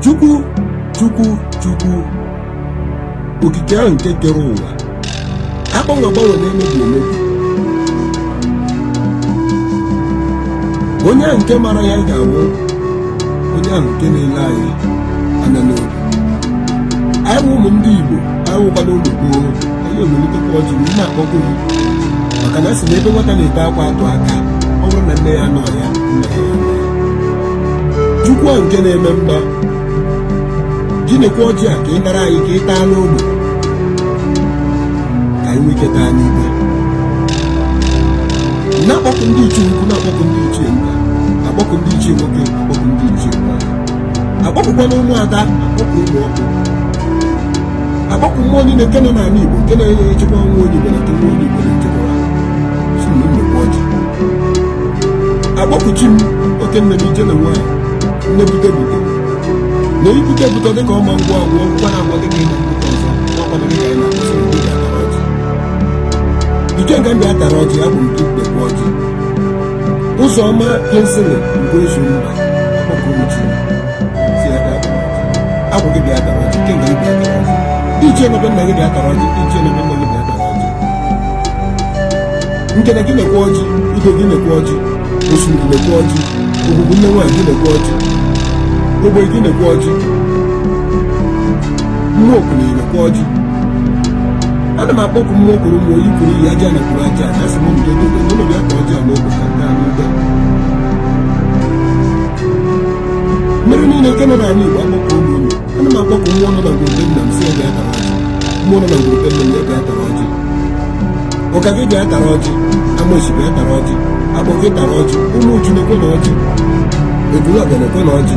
chukwu chukwu chukwu okike ahụ nke kere ụwa agbanwe agbanwe na-emebi emebi onye ahụ nke mara ya ga-anwụ onye ahụ nke na-ele anyị anya n'obi anyị wụ ụmụ ndị igbo anyị wụkwana ụmụ gboo anyị ewelitekwa ọjị m na-akpọku gị maka na asị na ebe nwata na-ebe akwa atụ aka ọ bụrụ na nne ya anọghị ya nna ya nọ ya. chukwu a nke na-eme mma gị nekwa ọjị a ka ị nara anyị ka ị taa n'ogbe ka anyị nwee ike taa n'ibe na-akpọku ndị ichie ukwu na-akpọku ndị ichie nta na-akpọku ndị ichie nwoke na-akpọku ndị ichie nwaanyị akpọkukwana ụmụada akpọku ụmụ ọkpụ akpọku mmụọ niile nke nọ n'ala igbo nke na-enye echekwa nwa onye igbo na nke nwa onye igbo na-echekwa sị ha nekwa ọjị akpọku chi m oke nne m ije na nwaanyị nne bute bute na ibute bute dịka ọma ngwa agwọ ngwa na agwa dịka ịna mbute ọzọ ọkwana dịka anyị na-asị bịa tara ọjị ikenga m bịa tara ọjị agwụ m nekwa ọjị Ụzọma Kinsley Ugoezumba akpọku chi sị ya bịa tara ọjị agwụ gị bịa tara ọjị ikenga gị bịa tara ọjị ndị ichie n'ebe nna gị bịa tara ọjị ndị ichie n'ebe nna gị bịa tara ọjị Ngene gị nekwa ọjị ibe gị nekwa ọjị osimiri nekwa ọjị ogwugwu nne nwaanyị gị nekwa ọjị ogbe gị nekwa ọjị mmụọ okenye nekwa ọjị ana m akpọkụ mmụọ kwuru mmụọ iyi kwuru iyi ajana kwuru ajana sị m mbido dobe ụlọ bịa taa ọjị a n'ogbe ka m taa n'ibe mmiri niile nke nọ n'ala igbo akpọkuo m unu ana m akpọkụ mmụọ nọ na ngwuru be nna m sị ya bịa tara ọjị mmụọ nọ na ngwuru be nna m ya bịa tara ọjị ọka gị bịa tara ọjị amosi bịa tara ọjị akpọ gị tara ọjị ụmụ uju nekwanụ ọjị eburu ọbịa nekwanụ ọjị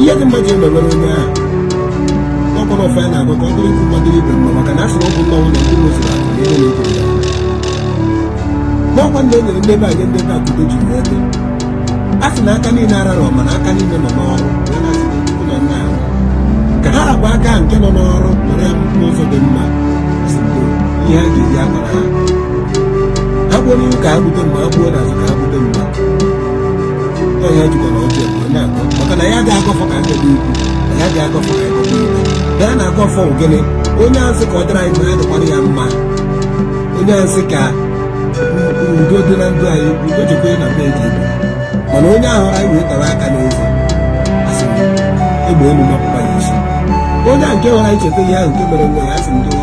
ihe dị mma ji emewere onye ahụ ọ bụrụ ọfọ anyị na-agọ ka ọ dịrị ikwu mma dịrị ibe mma maka na a sị na ọ bụ nna nwụrụ ndị ụlọ zụrụ akụ ihe na-eto ya n'ọkwa ndị e nyere ndị be anyị ndị be akụdo ji wee dị a sị na aka niile ararọ mana aka niile nọ n'ọrụ ya na asị na Chukwu na nna ahụ ka ha rapụ aka nke nọ n'ọrụ were ya n'ụzọ dị mma sị ndo ihe a ga-eji agbara ha ha gbuo n'ihu ka ha bute mma ha gbuo n'azụ ka ha bute mma onye jikwana oche mgbe na-akọ maka na ya dị agọ ọfọ ka ndị dị ukwu na ya dị agọ ọfọ ka ndị dị ukwu na ya na-agọ ọfọ ogene onye sị ka ọ dịrị anyị mma ya dịkwara ya mma onye sị ka udo dị na ndụ anyị udo dịkwa na be eji ebe mana onye ahụ anyị wee tara aka n'eze asị m egbe elu mapụkwa ya isi onye a nke nwere anyị cheta ihe ahụ nke mere nwa ya asị m doo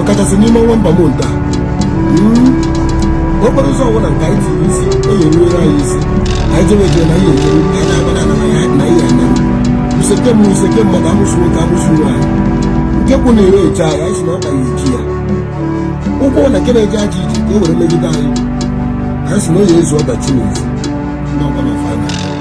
ọkachasị n'ime ọnwa ember month a okporo ụzọ ọbụla nke anyị tiri isi eyi eruere anyị isi anyị jewe jee na ihe ekere anyị na-agbada na ya na ihe anya useke m useke mmadụ amụsụ nwoke amụsụ nwaanyị nke kwụ na ere eche anyị anyị si na ọka ya eji ya ụkwụ na nke na-eje aja iji ka o were megide anyị anyị si na onye ezu ọdachi n'ezi n'ọkwa na fana